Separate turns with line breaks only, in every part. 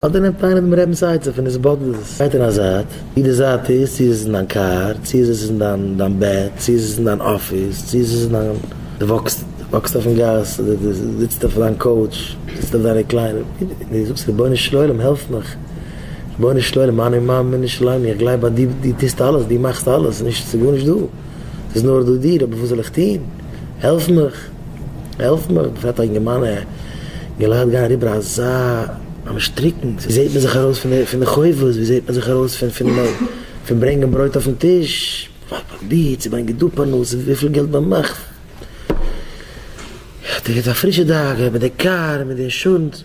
אדער נעמט איינער דעם רבינ'ס עצה פון איז באדערט עס, גייט אין א זייט, צו די זייט איז צו איז עס אין דיין קאר, צו איז עס אין דיין בעט, צו איז עס אין דיין אפיס, צו איז עס אין דיין, דו וואקסט, דו וואקסט אויפן גאס, אדער דו זיצט אויף דיין קאוטש, דו זיצט אויף דיינע קליידער, דו זאגסט רבונו של עולם העלף מיך, רבונו של עולם אנא עמם מני שלמי, איך גלייב אז דו טוסט אלעס, דו מאכסט אלעס, נישט, ס'איז גארנישט דא, ס'איז נאר דא דיר, אבער וואס זאל איך טון, העלף מיך. העלף מיר, געפעלט א אינגערמאן ע מיר לייכט גיין אריבער אזא ממש טריקענס, ווי זעהט מען זיך ארויס פון די פון די חובות, ווי זעהט מען זיך ארויס פון פון פון ברענגען ברויט אויפן טיש, פאר פאר די צו ברענגען דא פרנסה, וויפיל געלט מען מאכט, איך האב דיר געטון א פרישע דאגה מיט די קאר מיט די אינשורענס.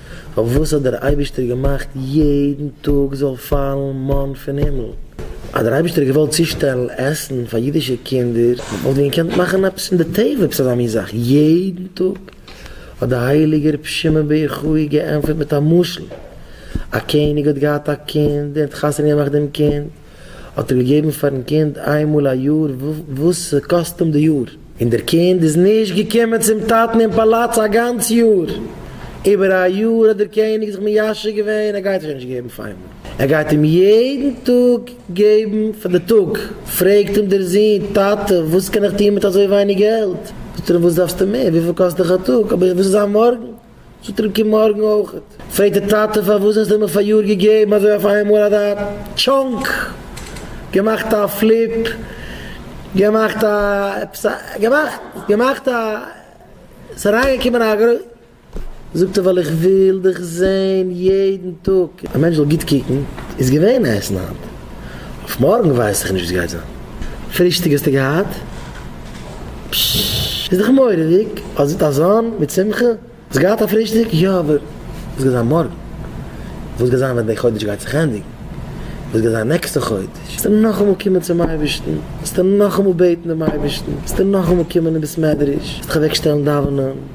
פארוואס האט דער אייבישטער געמאכט יעדן טאג זאל פאלן מאן פון הימל? אז דער אייבישטער האט געוואלט צושטעלן עסן פאר אידישע קינדער, וואלט ווען געקענט מאכן עפעס פון די טבע עפעס אזא מין זאך יעדן טאג, האט דער הייליגער רבי שמעון בר יוחאי געענטפערט מיט א משל, א קעניג האט געהאט א קינד און האט חתונה געמאכט דעם קינד, האט ער געגעבן פארן קינד איין מאל א יאר וואס ס'קאסט אים די יאר. און דער קינד איז נישט געקומען צום טאטן אין פאלאץ א גאנץ יאר. איבער א יאר האט דער קעניג זיך מיישב געווען, ער גייט אים שוין נישט געבן אויף איינמאל, ער גייט אים יעדן טאג געבן פאר די טאג. פרעגט אים דער זון, טאטע, וואס קען איך טון מיט אזוי ווייניג געלט? זאגט ער אים, וואס דארפסטו מער? וויפיל קאסט דיך א טאג? אבער וואס איז זיין מארגן? זאגט רבקה מארגן אויכעט. פרעגט די טאטע פארוואס האסטו מיר פאריאר געגעבן אזוי אויף איינמאל אזא טשאנק, געמאכט א פליפ, געמאכט א עפעס א געמאכט געמאכט א עס איז אריינגעקומען א גרוי. זאגט ער ווייל איך וויל דיך זעהן יעדן טאג, א מענטש זאל גוט קוקן, איז געווען עסן היינט. אויף מארגן ווייס איך נישט וואס גייט זיין. פרישטאג האסטו געהאט? פששש. איז דאך מורא'דיג. האסט אזאן מיט שמחה? האסט געהאט א פרישטאג? יא, אבער וואס גייט זיין מארגן? וואס גייט זיין ווען די חודש גייט זיך ענדיגן? וואס גייט זיין נעקסטע חודש? וועסטו נאכאמאל קומען צום אייבערשטן? וועסטו נאכאמאל בעטן דעם אייבערשטן? וועסטו נאכאמאל קומען אין בית מדרש? וועסטו דיך אוועקשטעלן דאווענען?